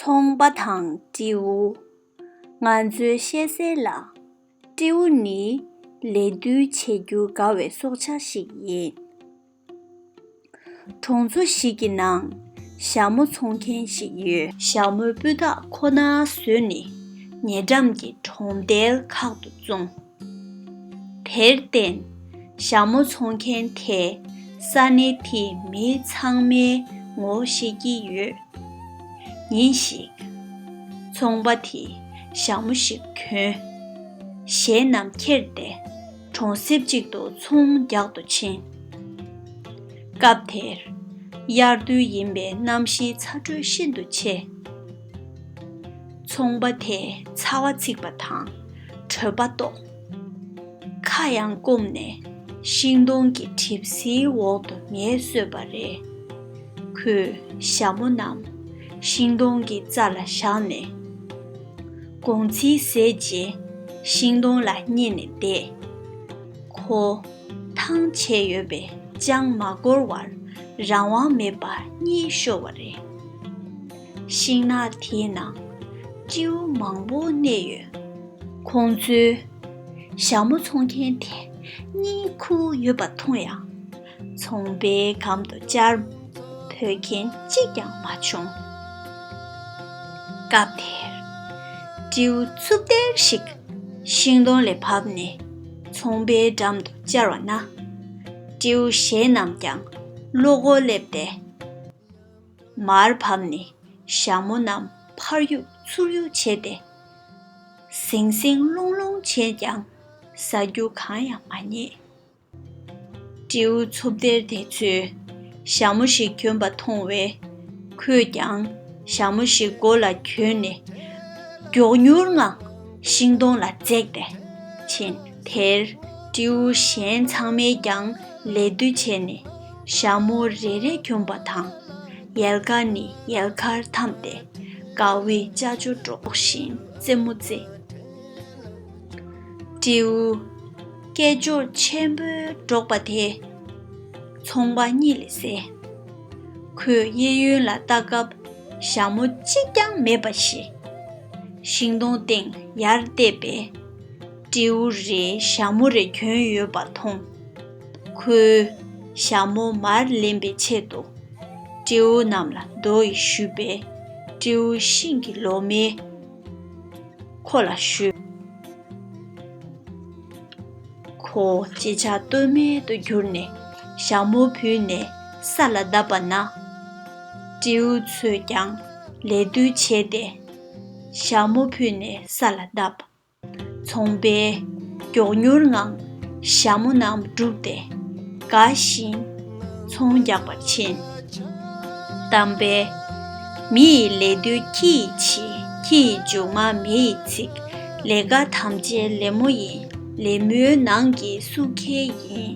ཚོང་པ་དང་སྤྲེའུ། ང་ཚོའི་བཤད་གསལ་ལ། སྤྲེའུ་ནི་ལས་བསྡུ་བྱེད་རྒྱུ་དགའ་བའི་སྲོག་ཆགས་ཤིག་ཡིན། གྲོང་ཚོ་ཞིག་གི་ནང་ཞྭ་མོ་འཚོང་མཁན་ཞིག་ཡོད། ཞྭ་མོའི་སྤུས་དག་ཁོ་ན་བཟོས་ནས་ཉེ་འགྲམ་གྱི་གྲོང་རྡལ་ཁག་ཏུ་བཙོངས། དེར་བརྟེན། ཞྭ་མོ་འཚོང་མཁན་དེས་ས་གནས་དེའི་མི་ཚང་མའི་ངོ་བོ་ཤེས་ཀྱི་ཡོད། ཉིན་ཞིག། ཚོང་པ་དེས་ཞྭ་མོ་ཞིག་གྱོན། གཞན་རྣམས་ཁྱེར་ཏེ་གྲོང་གསེབ་ཅིག་ཏུ་ཚོང་རྒྱག་ཏུ་ཕྱིན། སྐབས་དེར། དབྱར་དུས་ཡིན་པས་གནམ་གཤིས་ཚ་དྲོད་ཤིན་ཏུ་ཆེ། ཚོང་པ་དེས་ཚ་བ་འཚིག་པ་དང་བྲོད་པ་རྟོགས། ཁ་གཡང་བསྐུམ་ནས་ཤིང་སྡོང་གི་གྲིབ་བསིལ་འོག་ཏུ་ངལ་གསོས་པ་རེད། ཁོས་ཞྭ་མོ་རྣམས་ཤིང་སྡོང་གི་རྩ་ལ་བཞག་ནས། སྒོང་ཚིལ་ཟས་རྗེས་ཤིང་སྡོང་ལ་བསྙེས་ནས་བསྡད། ཁོ། ཐང་ཆད་ཡོད་པས་ཅང་མ་འགོར་བར་རང་དབང་མེད་པར་གཉིད་ཤོར་བ་རེད། ཤིང་ནགས་དེའི་ནང་སྤྱིའུ་མང་པོ་གནས་ཡོད། ཁོང་ཚོས་ཞྭ་མོ་འཚོང་མཁན་དེ་གཉིས་ཁུ་ཡོད་པ་མཐོང་ཡང། ཚོང་པའི་གམ་དུ་བཅར་འཕོས་མཁན་གཅིག་ཀྱང་མ་བྱུང། སྐབས་དེར། སྤྱིའུ་འཚུབ་བརྡལ་ཞིག་ཤིང་སྡོང་ལས་བབས་ནས་ཚོང་པའི་འགྲམ་དུ་བཅར་བ་ན། སྤྱིའུ་གཞན་རྣམས་ཀྱང་བློ་སྒོ་སླེབས་ཏེ། མར་བབས་ནས་ཞྭ་མོ་རྣམས་ཕར་གཡུག་ཚུར་གཡུག་བྱས་ཏེ། ཟིང་ཟིང་སློང་སློང་བྱས་ཀྱང་ཟ་རྒྱུ་གང་ཡང་མ་རྙེད། སྤྲེའུ་འཚུབ་སྡེར་དེ་ཚོས་ཞྭ་མོ་ཞིག་གྱོན་པ་མཐོང་བས། ཁོས་ཀྱང་ཞྭ་མོ་ཞིག་མགོ་ལ་གྱོན་ནས་མགྱོགས་མྱུར་ངང་ཤིང་སྡོང་ལ་འཛེགས་ཏེ་ཕྱིན། དེར་སྤྲེའུ་གཞན་ཚང་མས་ཀྱང་ལད་ཟློས་བྱས་ནས། ཞྭ་མོ་རེ་རེ་གྱོན་པ་དང། ཡལ་ག་ནི་ཡལ་གར་འཐམས་ཏེ། དགའ་བའི་ལྕགས་ཀྱུ་སྒྲོག་བཞིན་རྩེད་མོ་རྩེ། སྤྲེའུ། སྐད་ཅོར་ཆེན་པོས་སྒྲོག་པ་དེ། ཚོང་པ་གཉིད་ལས་སད། ཁོས་གཡས་གཡོན་ལ་ལྟ་སྐབས་ཞྭ་མོ་གཅིག་ཀྱང་མེད་པ་ཤེས། ཤིང་སྡོང་སྟེང་ཡར་བལྟས་པས། སྤྲེའུ་རེས་ཞྭ་མོ་རེ་གྱོན་ཡོད་པ་མཐོང། ཁོའི་ཞྭ་མོ་མར་ལེན་པའི་ཆེད་དུ། སྤྲེའུ་རྣམས་ལ་རྡོ་ཡིས་གཞུས་པས་སྤྲེའུ་ཤིང་གི་ལོ་མས་ཁོ་ལ་གཞུས། ཁོ་ཅི་བྱ་གཏོལ་མེད་དུ་གྱུར་ནས་ཞྭ་མོ་བུད་ནས་ས་ལ་བརྡབས་པ་ན། སྤྲེའུ་ཚོས་ཀྱང་ལད་ཟློས་བྱས་ཏེ་ཞྭ་མོ་བུད་ནས་ས་ལ་བརྡབས། ཚོང་པས་མགྱོགས་མྱུར་ངང་ཞྭ་མོ་རྣམས་བསྒྲུགས་ཏེ་དགའ་བཞིན་ཚོང་རྒྱག་པར་ཕྱིན། གཏམ་དཔེ། མི་ཡི་ལས་རྡུལ་ཁྱི་ཡི་ཕྱི་ཁྱི་ཡི་མཇུག་མ་མེ་ཡི་ཚིག། ལས་དགའ་དམ་བཅའི་ལེབ་མོ་ཡིན་ལེབ་མོའི་ནང་གི་སུ་ཁེལ་ཡིན།